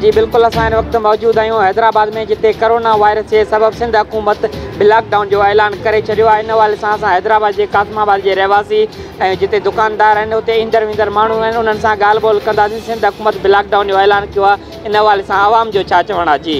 جي بلڪل اسان هن وقت موجود آهيون حيدرآباد ۾ جتي ڪرونا وائرس جي سبب سنڌ حڪومت لاڪ ڊائون جو اعلان ڪري ڇڏيو آهي ان حوالي سان اسان حيدرآباد جي قاسم آباد جي رهواسي ۽ جتي دڪاندار آهن اتي ايندڙ ويندڙ ماڻهو آهن انهن سان ڳالهه ٻولهه ڪنداسين سنڌ حڪومت لاڪ ڊائون جو اعلان ڪيو آهي ان حوالي سان عوام جو ڇا چوڻ آهي جي.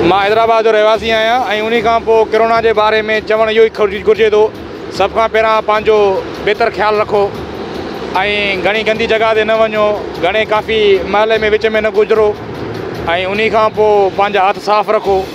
مان حيدرآباد جو رهواسي آهيان ۽ انهي کان پوء ڪرونا جي باري ۾ چوڻ اهو ئي گهرجي ٿو سڀ کان پهريان پنهنجو بهتر خيال رکو ۽ گهڻي گندي جڳهه تي نه وڃو گهڻي ڪافي محلي ۾ وچ ۾ نه گذرو ۽ انهي کان پوء پنهنجا هٿ صاف رکو.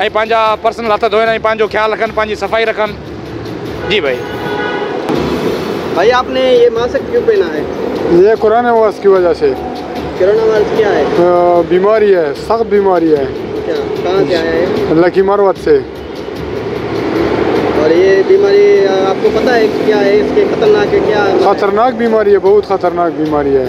۽ پنهنجا پرسنل هٿ ڌوئن ۽ پنهنجو خيال رکن پنهنجي صفائي رکن جي ڀائي. ڀائي آپ ني يي ماسڪ ڪيون پهنا هي. يي ڪورونا وائرس ڪي وجه سي. ڪورونا وائرس ڪيا هي. بيماري هي سخت بيماري هي. اچھا ڪهان سي آيا هي. لکي مروت سي. اور يي بيماري آپ ڪو پتا هي ڪيا هي اس کي خطرناڪ هي ڪيا. خطرناڪ بيماري هي بهوت خطرناڪ بيماري هي.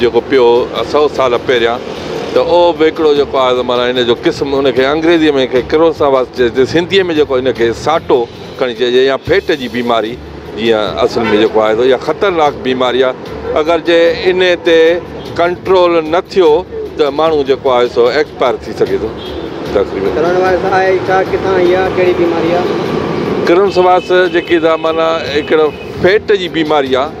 جيڪو پيو هو سؤ سال پهريان ته اهو به هڪڙو جيڪو آهي ته معنيٰ ان جو قسم ان کي انگريزيء ۾ ان کي ڪروساواس چئجي سنڌيء ۾ جيڪو ان کي ساٽو کڻي چئجي يا ڦيٽ جي بيماري جيئن اصل ۾ جيڪو آهي اها خطرناڪ بيماري آهي اگر جي ان تي ڪنٽرول نه ٿيو ته ماڻهو جيڪو آهي سو ايڪسپائر ٿي سگهي ٿو ڪرونوائرس آهي ئي ڇا ڪٿان ايندي آهي ڪهڙي بيماري آهي ڪرونسواس جيڪي ته معنيٰ هڪڙو ڦيٽ جي بيماري آهي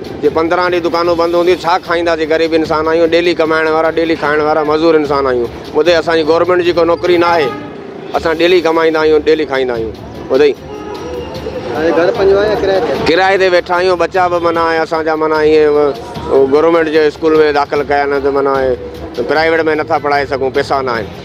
جي پندرهن ڏينهن دڪانون بند هونديون ڇا کائينداسين غريب انسان آهيون ڊيلي ڪمائڻ وارا ڊيلي کائڻ وارا مزور انسان آهيون ٻڌئي اسان جي گورمينٽ جي ڪو نوڪري ناهي اسان ڊيلي ڪمائيندا آهيون ڊيلي کائيندا آهيون ٻڌئي ڪرايي تي ويٺا آهيون ٻچا به معنيٰ اسان جا معنيٰ ائين گورمينٽ جي اسڪول ۾ داخل ڪيا نه ته معنيٰ پرائيويٽ ۾ نٿا پڙهائي سگهون پيسا ناهن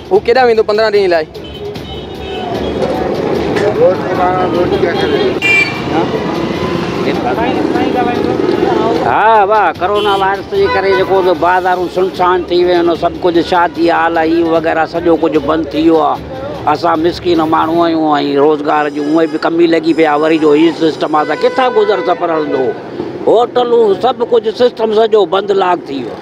هو ڪيڏانهن ويندو پندرهن ڏينهن لاء؟ ها واهه ڪرونا وائرس جي ڪري جيڪو به بازارون سنسان ٿي ويون آهن سڀ ڪجهه شادي هال هي وغيره سڄو ڪجهه بند ٿي ويو آهي اسان مسڪين ماڻهو آهيون ۽ روزگار جي هونئن به ڪمي لڳي پئي آهي وري جو هي سسٽم آهي ته ڪٿان گذر سفر هلندو هوٽلون سڀ ڪجهه سسٽم سڄو بند لاڪ ٿي ويو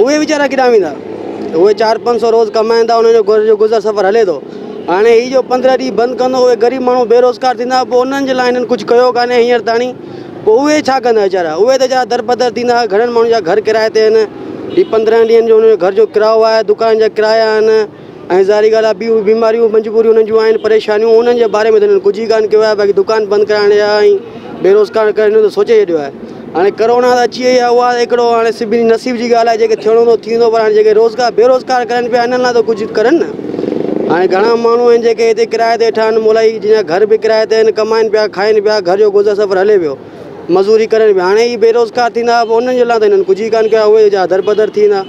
اهي ويچارا ڪيڏانهن ويندا؟ اهي چار پنج سو روز ڪمائين ٿا، انهن جو گهر جو گذر سفر هلي ٿو. هاڻي هي جو پندرهن ڏينهن بند ڪندو، اهي غريب ماڻهو بيروزگار ٿيندا، پوء انهن جي لاء هنن ڪجهه ڪيو ڪانهي هينئر تاڻي، پوء اهي ڇا ڪندا ويچارا؟ اهي ته ويچارا دربدر ٿيندا، گهڻن ماڻهن جا گهر ڪرايي تي آهن، هي پندرهن ڏينهن جو انهن جو گهر جو ڪرايو آهي، دڪان جا ڪرايا آهن. ۽ ظاهري ڳالهه آهي ڀي اهي بيماريون مجبوريون انهن جون آهن پريشانيون انهن جي باري ۾ ته انهن ڪجهه ئي ڪانه ڪيو آهي باقي دڪان بند ڪرائڻ جا ۽ بيروزگار ڪرڻ جو ته سوچي ڇڏيو آهي هاڻي ڪرونا ته اچي وئي آهي اها هڪڙو هاڻي سڀني جي نصيب جي ڳالهه آهي جيڪي ٿيڻو هوندو ٿي ويندو پر هاڻي جيڪي روزگار بيروزگار ڪرن پيا انهن لاء ته ڪجهه ڪرن نه هاڻي گهڻا ماڻهو آهن جيڪي هتي ڪرايي تي ويٺا آهن مولائي جن جا گهر به ڪرايي تي آهن ڪمائن پيا کائن پيا گهر جو گذر سفر هلي پيو مزوري ڪرن پيا هاڻي هي بيروزگار ٿيندا پوء انهن جي لاء ته هنن ڪجهه ئي ڪانه ڪيو آهي اهي جا دربدر ٿي ويندا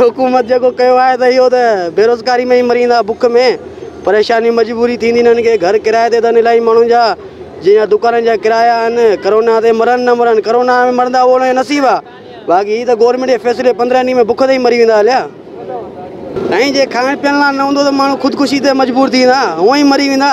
حڪومت جيڪو ڪيو آهي ته اهو ته بيروزگاري ۾ ئي مريندا بک ۾ پريشاني مجبوري ٿيندي انهن کي گهر ڪرايي تي اٿن الائي ماڻهن جا جن جا دڪانن جا ڪرايا آهن ڪرونا تي مرن نه مرن ڪرونا ۾ مرندا اهو انهن جو نصيب آهي باقي هي ته گورنمينٽ جي فيصلي پندرهن ڏينهن ۾ بک تي ئي مري ويندا هليا ۽ جي کائڻ پيئڻ لاء نه هوندو ته ماڻهو خودڪشي تي مجبور ٿي ويندا هونئن ئي مري ويندا.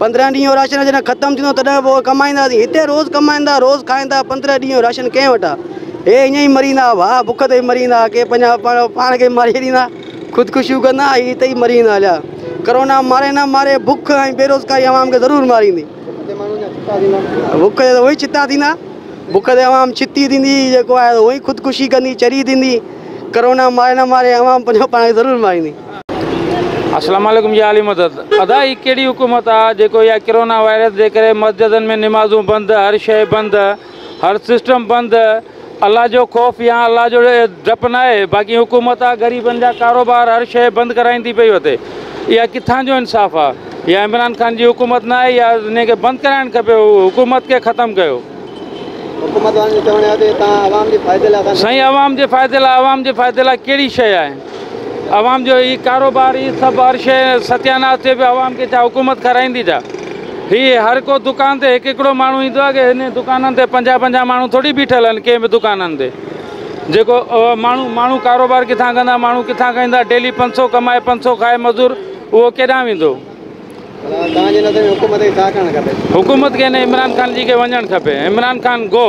پندرهن ڏينهن جو راشن جڏهن ختم ٿيندو تڏهن پوء ڪمائينداسين. هتي روز ڪمائيندا، روز کائيندا، پندرهن ڏينهن جو راشن ڪنهن وٽ آ؟ هي ائين ئي مريندا، ڀاء بک تي مريندا، ڪي پنهنجا پاڻ پاڻ کي ماري ڇڏيندا، خودڪشيون ڪندا ۽ هتي ئي مريندا هليا. ڪرونا ماري نه ماري، بک ۽ بيروزگاري عوام کي ضرور ماريندي. بک تي ته هونئن ڇتا ٿيندا، بک تي عوام ڇتي ٿيندي، جيڪو آهي هونئن خودڪشي ڪندي، چري ٿيندي. ڪرونا ماري نه ماري، عوام پنهنجو پاڻ کي ضرور ماريندي. اسلام عليڪم جي عالي مدد. ادا هي ڪهڙي حڪومت آ جيڪو اها ڪرونا وائرس جي ڪري مسجدن ۾ نمازون بند هر شئي بند هر سسٽم بند الله جو خوف يا الله جو ڊپ ناهي باقي حڪومت آ غريبن جا ڪاروبار هر شئي بند ڪرائيندي پئي وتي اها ڪٿان جو انصاف آ اها عمران خان جي حڪومت ناهي يا انهي کي بند ڪرائڻ کپي حڪومت کي ختم ڪيو. حڪومت وارن جو چوڻ اهي آ تي توهان عوام جي فائدي لاء سائين عوام جي فائدي لاء عوام جي فائدي لاء ڪهڙي شئي آهي. عوام جو هي ڪاروبار هي سڀ هر شيء ستياناس ٿئي پيو عوام کي ڇا حڪومت کارائيندي ڇا هي هر ڪو دڪان تي هڪ هڪڙو ماڻهو ايندو آهي ڪي هن دڪانن تي پنجاهه پنجاهه ماڻهو ٿوري بيٺل آهن ڪنهن به دڪانن تي جيڪو ماڻهو ماڻهو ڪاروبار ڪٿان ڪندا ماڻهو ڪٿان کائيندا ڊيلي پنج سو ڪمائي پنج سو کائي مزور اهو ڪيڏانهن ويندو حڪومت کي نه عمران خان جي کي وڃڻ کپي عمران خان گو.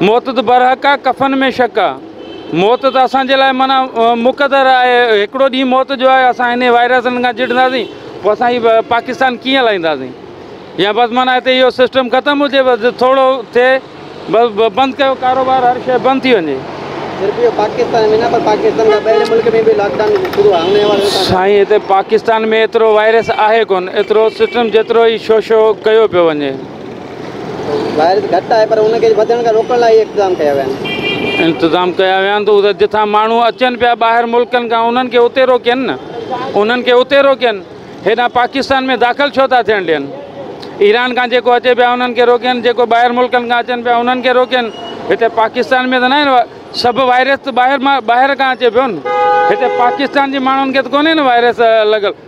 موت ته برحق آ، ڪفن ۾ شڪ آ. موت ته اسان جي لاء معنيٰ مقدر آهي، هڪڙو ڏينهن موت جو آهي، اسان انهي وائرسن کان چڙهنداسين، پوء اسان هي پاڪستان ڪيئن هلائينداسين؟ يا بس معنيٰ هتي اهو سسٽم ختم هجي، بس ٿورو ٿئي، بس بند ڪيو ڪاروبار، هر شيء بند ٿي وڃي. صرف اهو پاڪستان ۾ نه پر پاڪستان کان ٻاهرين ملڪ ۾ به لاڪ ڊائون شروع آهي، انهي حوالي سان ڇا چوندو؟ سائين هتي پاڪستان ۾ ايترو وائرس آهي ڪونه، ايترو سسٽم جيترو هي شو شو ڪيو پيو وڃي. وائرس گهٽ آهي پر ان کي وڌڻ کان روڪڻ لاء اهي اقتدام ڪيا ويا آهن. انتظام ڪيا ويا آهن ته اهي جتان ماڻهو اچن پيا ٻاهر ملڪن کان انهن کي اتي روڪين نه انهن کي اتي روڪين هيڏانهن پاڪستان ۾ داخل ڇو ٿا ٿيڻ ڏين ايران کان جيڪو اچي پيا انهن کي روڪين جيڪو ٻاهر ملڪن کان اچن پيا انهن کي روڪين هتي پاڪستان ۾ ته ناهي نه سڀ وائرس ته ٻاهر مان ٻاهر کان اچي پيو نه هتي پاڪستان جي ماڻهن کي ته ڪونهي نه وائرس لڳل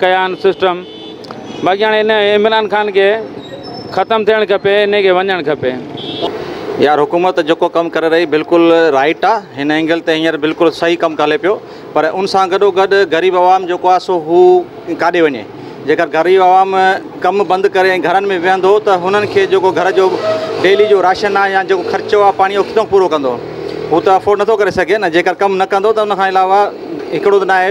ڪيان سسٽم باقي هاڻي ان عمران خان کي ختم ٿيڻ کپي انهي کي وڃڻ کپي. يار حڪومت جيڪو ڪم ڪري رهي بلڪل رائيٽ آ هن اينگل تي هينئر بلڪل صحيح ڪم ڪلي پيو پر ان سان گڏو گڏ غريب عوام جيڪو آ سو هو ڪاڏي وڃي جيڪر غريب عوام ڪم بند ڪري ۽ گهرن ۾ ويهندو ته هنن کي جيڪو گهر جو ڊيلي جو راشن آ يا جيڪو خرچو آ پاڻي هو ڪٿو پورو ڪندو هو ته افورڊ نٿو ڪري سگهي نه جيڪر ڪم نه ڪندو ته ان کان علاوه هڪڙو ته ناهي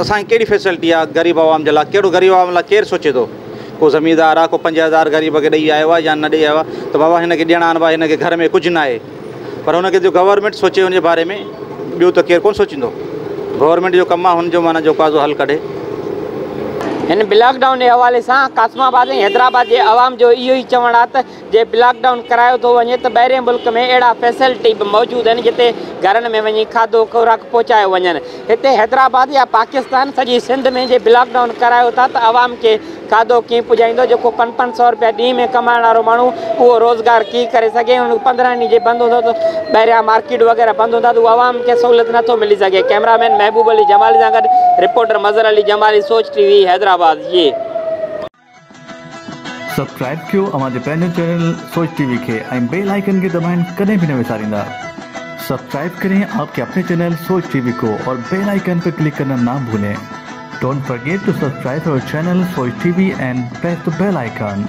اسان کي ڪهڙي فيسلٽي آ غريب عوام جي لا ڪهڙو غريب عوام لا ڪير سوچي ٿو ڪو زميندار آ ڪو پنج هزار غريب کي ڏئي آيو آ يا نه ڏئي آيو آ ته بابا هن کي ڏيڻا آهن ڀا هن کي گهر ۾ ڪجهه ناهي پر هن کي جو گورنمينٽ سوچي ان جي باري ۾ ٻيو ته ڪير ڪون سوچيندو گورنمينٽ جو ڪم آ هن جو معنيٰ جو ڪازو حل ڪڍي. هن بلاڪ ڊائون جي حوالي سان قاسم آباد ۽ حيدرآباد جي عوام جو اهو ئي چوڻ آ ته جي بلاڪ ڊائون ڪرايو ٿو وڃي ته ٻاهرين ملڪ ۾ اهڙا فيسلٽي به موجود آهن جتي گهرن ۾ وڃي کاڌو خوراڪ پهچايو وڃن هتي حيدرآباد يا پاڪستان سڄي سنڌ ۾ جي بلاڪ ڊائون ڪرايو ٿا ته عوام کي کاڌو ڪي پڄائيندو جيڪو پنج پنج سئو روپيا ڏينهن ۾ ڪمائڻ وارو ماڻهو اهو روزگار ڪي ڪري سگهي هن پندرهن ڏينهن جي بند هوندو ته ٻاهريان مارڪيٽ وغيره بند هوندا ته عوام کي سهولت نه ٿو ملي سگهي ڪئميرا مين محبوب علي جمالي سان گڏ reporter Mazhar Ali Jamali Soch TV Hyderabad جي سبسڪرائب ڪيو اوهان جي پنهنجو چينل سوچ ٽي وي کي ۽ بيل آئيڪن کي دٻائڻ ڪڏهن به نه وساريندا سبسڪرائب ڪرين آپ ڪي اپني چينل سوچ ٽي وي ڪو اور بيل آئيڪن پي ڪلڪ ڪرنا نا ڀولين ڊونٽ فرگيٽ ٽو سبسڪرائب اور channel Soch TV and press the bell icon.